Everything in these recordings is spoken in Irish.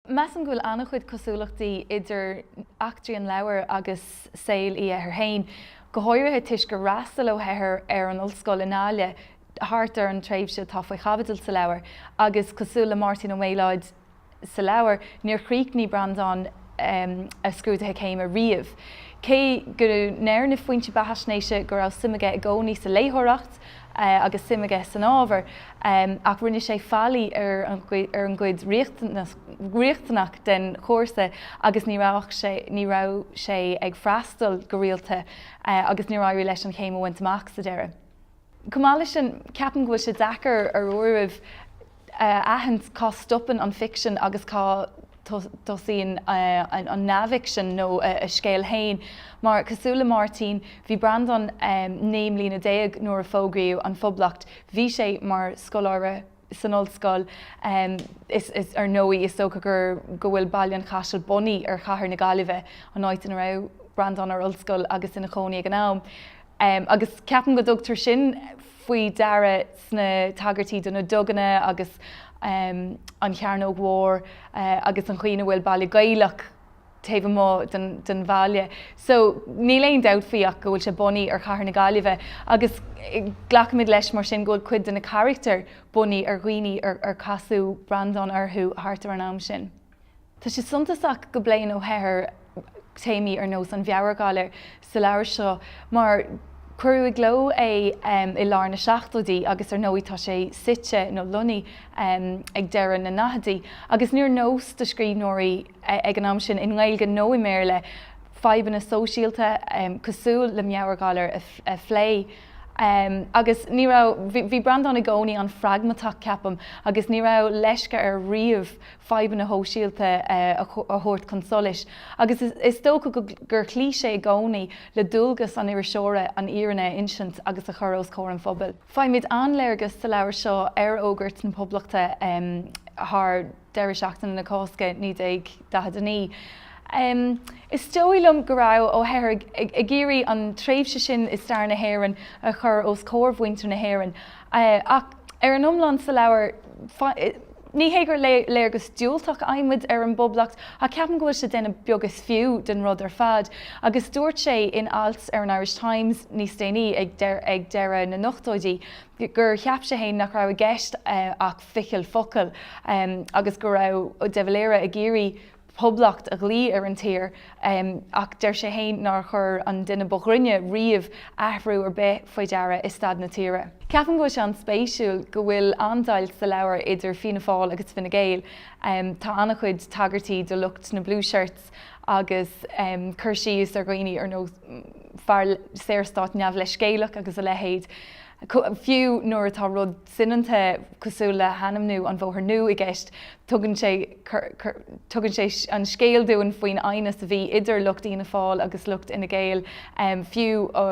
Measaim go bhfuil an-chuid cosúlachtaí idir eachtraí an leabhair agus saol Uí Eithir féin, go háirithe toisc gur fhreastail Ó hEithir ar an ollscoil i nGaillimh thart ar an tréimhse atá faoi chaibidil sa leabhar, agus cosúil le Máirtín Ó Méalóid sa leabhar, níor chríochnaigh Breandán a scrúduithe céime riamh, cé go ndeir na foinsí beathaisnéise go raibh suim aige i gcónaí sa léitheoireacht. agus suim aige san ábhar, ach rinne sé faillí ar an gcuid riachtanach den chúrsa agus ní raibh sé ní raibh sé ag freastal go rialta agus níor éirigh leis an chéim a bhaint amach sa deireadh. Chomh maith leis sin, ceapaim go bhfuil sé deacair ar uairibh, a aithint cá stopann an ficsean agus cá dtosaíonn an neamhfhicsean nó a scéal féin, mar, cosúil le Máirtín, bhí Breandán naoi mbliana déag nuair a fógraíodh an Phoblacht, bhí sé mar scoláire san ollscoil, is ar ndóigh is dócha go bhfuil Baile an Chaisil bunaithe ar chathair na Gaillimhe, an áit ina raibh Breandán ar ollscoil agus ina chónaí ag an am, agus ceapaim go dtugtar sin. faoi deara sna tagairtí do na duganna agus an chearnóg mhór agus an chaoi ina bhfuil baile Gaelach taobh amuigh den bhaile so níl aon dabht faoi ach go bhfuil sé bunaithe ar chathair na Gaillimhe agus glacaimid leis mar sin go bhfuil cuid de na carachtair bunaithe ar dhaoine ar casadh Breandán orthu thart ar an am sin. Tá sé suntasach go bpléann Ó hEithir téamaí ar nós an mheabhairghalair sa leabhar seo mar cuireadh i gcló é i lár na seachtóidí agus ar ndóigh tá sé suite, nó lonnaithe, ag deireadh na ndaichidí agus níor nós do scríbhneoirí ag an am sin, i nGaeilge nó i mBéarla, fadhbanna sóisialta cosúil le meabhairghalar a phlé. Agus ní raibh, bhí Breandán i gcónaí an-phragmatach, ceapaim, agus ní raibh leisce air riamh fadhbanna shóisialta a thabhairt chun solais agus is dócha gur chloígh sé i gcónaí le dualgas an iriseora an fhírinne a insint agus a chur os comhair an phobail. Faighimid an-léargas sa leabhar seo ar fhógairt na Poblachta thar deireadh seachtaine na Cásca 1949. Is dóigh liom go raibh Ó hEithir ag iarraidh an tréimhse sin i stair na hÉireann a chur os comhair mhuintir na hÉireann ach, Ar an iomlán sa leabhar, ní hé gur léargas diúltach a fhaighimid ar an bPoblacht, ach ceapaim go bhfuil sé déanamh beag is fiú den rud ar fad, agus dúirt sé in alt ar an Irish Times níos déanaí, ag deireadh na n-ochtóidí, gur cheap sé fhéin nach raibh i gceist ach ficheall focal, agus go raibh de Valera ag iarraidh, Poblacht a ghlaoch ar an tír, ach deir sé fhéin nár chuir an duine ba ghrinne riamh athrú ar bith faoi deara i staid na tíre. Ceapaim go bhfuil sé an-spéisiúil go bhfuil an-deighilt sa leabhar idir Fianna Fáil agus Fine Gael. Tá an-chuid tagairtí do lucht na Blue Shirts agus cur síos ar dhaoine ar nós fear saorstáit neamhleithscéalach agus a leithéid, fiú nuair atá rud soineanta cosúil le hainmniú an Bhóthar Nua i gceist, tugann sé tugann sé an scéal dúinn faoin aighneas a bhí idir lucht Fhianna Fáil agus lucht Fhine Gael, fiú ó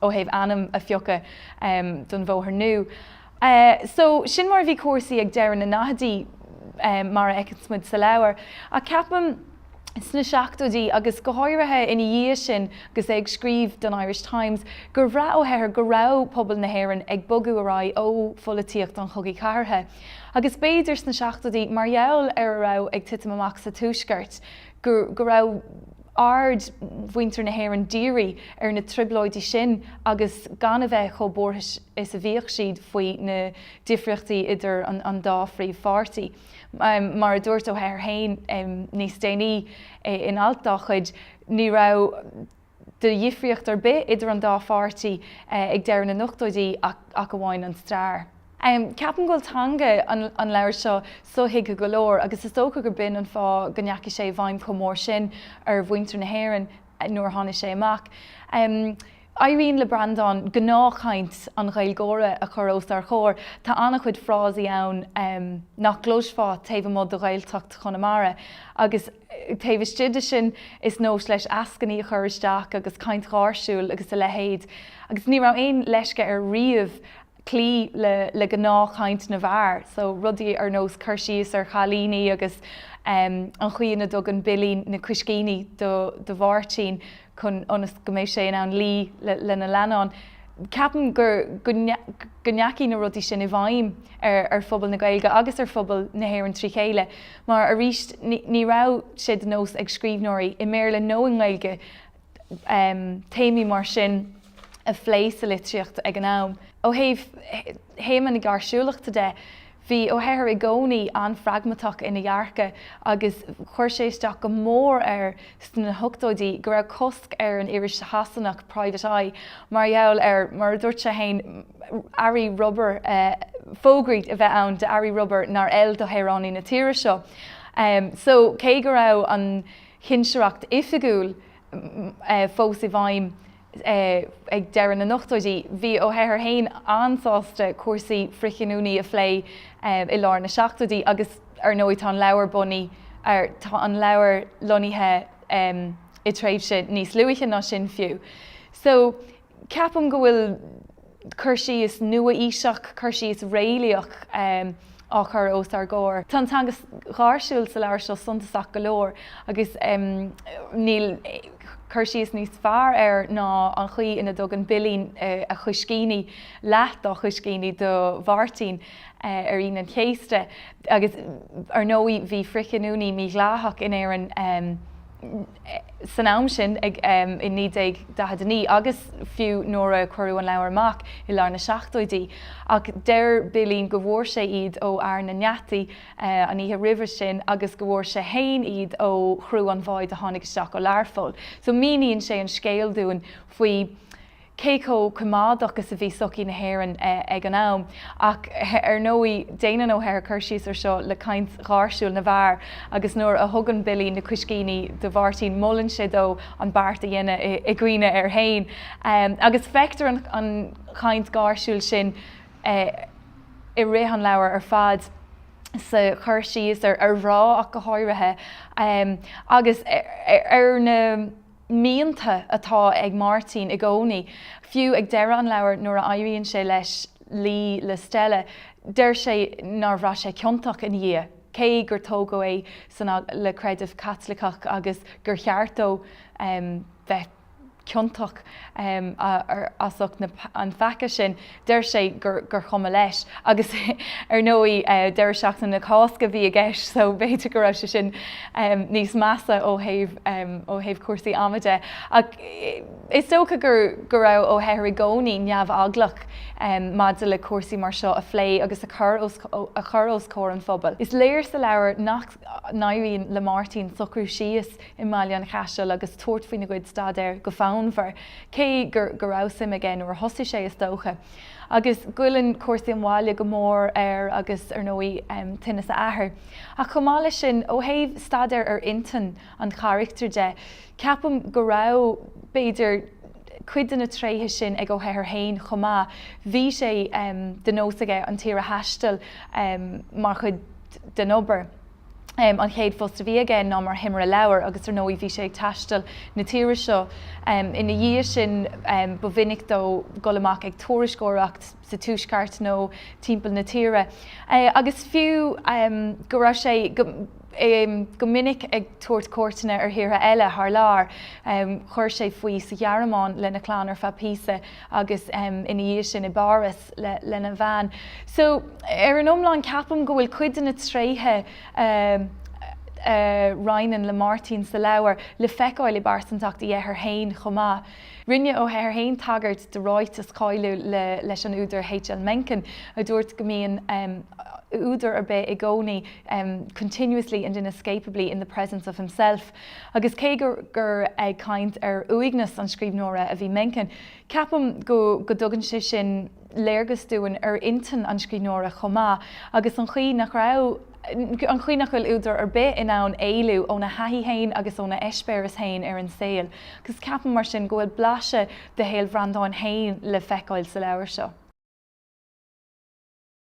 thaobh ainm a phiocadh don Bhóthar Nua. So, sin mar a bhí cúrsaí ag deireadh na ndaichidí, mar a fheiceanns muid sa leabhar, ach ceapaim, sna seachtóidí agus go háirithe ina dhiaidh sin agus é ag scríobh don Irish Times, gur bhraith Ó hEithir go raibh pobal na hÉireann ag bogadh ar aghaidh ó pholaitíocht an chogaidh chathartha agus b'fhéidir sna seachtóidí, mar gheall ar a raibh ag titim amach sa Tuaisceart, go raibh aird mhuintir na hÉireann dírithe ar na trioblóidí sin agus gan a bheith chomh buartha is a bhíodh siad faoi na difríochtaí idir an dá phríomhpháirtí. Mar a dúirt Ó hEithir féin níos déanaí in alt dá chuid, ní raibh de dhifríocht ar bith idir an dá pháirtí ag deireadh na n-ochtóidí ach amháin an stair. Ceapaim go bhfuil teanga an leabhair seo sothuigthe go leor agus is dócha gur b'in an fáth go ndeachaigh sé i bhfeidhm chomh mór sin ar mhuintir na hÉireann. nuair a tháinig sé amach. Éiríonn le Breandán gnáthchaint an Ghaeilgeora a chur os ár gcomhair, tá an-chuid frásaí ann nach gcloisfeá taobh amuigh de Ghaeltacht Chonamara, agus taobh istigh de sin, is nós leis eascainí a chur isteach agus caint gháirsiúil agus a leithéid, agus ní raibh aon leisce air riamh cloí le le gnáthchaint na bhfear, so rudaí ar nós cur síos ar chailíní agus em an chaoi ina dtugann Billy na coiscíní do do Mháirtín chun ionas go mbeidh sé in ann luí le lena leannán, ceapaim gur go go ndeachaigh na rudaí sin i bhfeidhm ar ar phobal na Gaeilge agus ar phobal na hÉireann trí chéile mar arís ní raibh sé de nós ag scríbhneoirí, i mBéarla nó i nGaeilge, téamaí mar sin a phlé sa litríocht ag an am. Ó thaobh théama na gáirsiúlachta de, bhí Ó hEithir i gcónaí an-phragmatach ina dhearcadh agus chuir sé isteach go mór air sna hochtóidí go raibh cosc ar an iris Shasanach Private Eye mar gheall ar, mar a dúirt sé féin, earraí rubair, fógraí a bheith ann d'earraí rubair nár fheil do shaoránaigh na tíre seo. So cé go raibh an chinsireacht oifigiúil fós i bhfeidhm ag deireadh na n-ochtóidí, bhí Ó hEithir féin an-sásta cúrsaí frithghiniúna a phlé i lár na seachtóidí agus ar ndóigh tá an leabhar bunaithe, tá an leabhar lonnaithe i dtréimhse níos luaithe ná sin fiú. So. Ceapaim go bhfuil cur síos nua-aoiseach, cur síos réalaíoch, á chur os ár gcomhair. Tá an teanga gháirsiúil sa leabhar seo suntasach go leor agus níl cur síos níos fearr air ná an chaoi ina dtugann Bilín a choiscíní, leath dá choiscíní, do Mháirtín ar Aoine an Chéasta. Agus ar ndóigh bhí frithghiniúnaí mídhleathach in Éirinn. san am sin, ag, um, i 1949 agus fiú nuair a cuireadh an leabhar amach i lár na seachtóidí. Ach deir Bilín go bhfuair sé iad ó Fhear na nGeataí, eh, an oíche roimhe sin agus go bhfuair sé fhéin iad ó chriú an bháid a tháinig isteach ó Learpholl. So míníonn sé an scéal dúinn faoi, cé chomh coimeádach is a bhí sochaí na hÉireann ag an am. Ach ar ndóigh, déanann Ó hEithir cur síos ar seo le caint gháirsiúil na bhfear agus nuair a thugann Bilín na coiscíní do Mháirtín molann sé dó an beart a dhéanamh i gcuimhne air féin agus feictear an chaint gháirsiúil sin i rith an leabhair ar fad, sa chur síos ar mhná ach go háirithe agus ar na. mianta atá ag Máirtín i gcónaí, fiú ag deireadh an leabhair nuair a éiríonn sé leis luí le Stella, deir sé nár bhraith sé ciontach ina dhiaidh, cé gur tógadh é san le creideamh Caitliceach agus gur cheart dó bheith ciontach as ucht an pheaca sin. Deir sé gur chuma leis. Agus ar ndóigh, deireadh seachtaine na Cásca a bhí i gceist so b'fhéidir go raibh sé sin níos measa ó thaobh cúrsaí ama de. Ach is dócha go raibh Ó hEithir i gcónaí neamheaglach maidir le cúrsaí mar seo a phlé agus a chur os comhair an phobail. Is léir sa leabhar nach n-éiríonn le Máirtín socrú síos i mBaile an Chaisil agus tabhairt faoina gcuid staidéir go fonnmhar, cé go raibh suim aige nuair a thosaigh sé, is dócha. Agus goilleann cúrsaí an bhaile go mór air agus, ar ndóigh, tinneas a athar. Ach chomh maith leis sin, ó thaobh staidéar ar intinn an charachtair de, ceapaim go raibh, b'fhéidir, cuid de na tréithe sin ag Ó hEithir féin chomh maith, bhí sé de nós aige an tír a thaisteal mar chuid. den obair. An chéad phost a bhí aige ná mar thimire leabhar agus ar ndóigh bhí sé ag taisteal na tíre seo ina dhiaidh sin. Ba mhinic dó dul amach ag tuairisceoireacht sa Tuaisceart nó timpeall na tíre agus fiú go raibh sé go minic ag tabhairt cuairteanna ar thíortha eile thar lear. Chuir sé faoi sa Ghearmáin lena chlann ar feadh píosa agus ina dhiaidh sin i bPáras lena bhean. So ar an iomlán ceapaim go bhfuil cuid de na tréithe a roinneann le Martin sa leabhar le feiceáil i bpearsantacht Uí Eithir féin chomh maith. Rinne Ó hEithir féin tagairt do ráiteas cáiliúil leis an údar H.L. Mencken a dúirt go mbíonn údar ar bith i gcónaí continuously and inescapably in the presence of himself, Agus cé gur ag caint ar uaigneas an scríbhneora a bhí Mencken, ceapaim go dtugann sé sin léargas dúinn ar intinn an scríbhneora chomh maith, agus an chaoi nach raibh, an chaoi nach bhfuil údar ar bith in ann éalú óna thaithí féin agus óna eispéireas féin ar an saol. Agus ceapaim, mar sin, go bhfuil blaiseadh de shaol Bhreandáin féin le feiceáil sa leabhar seo.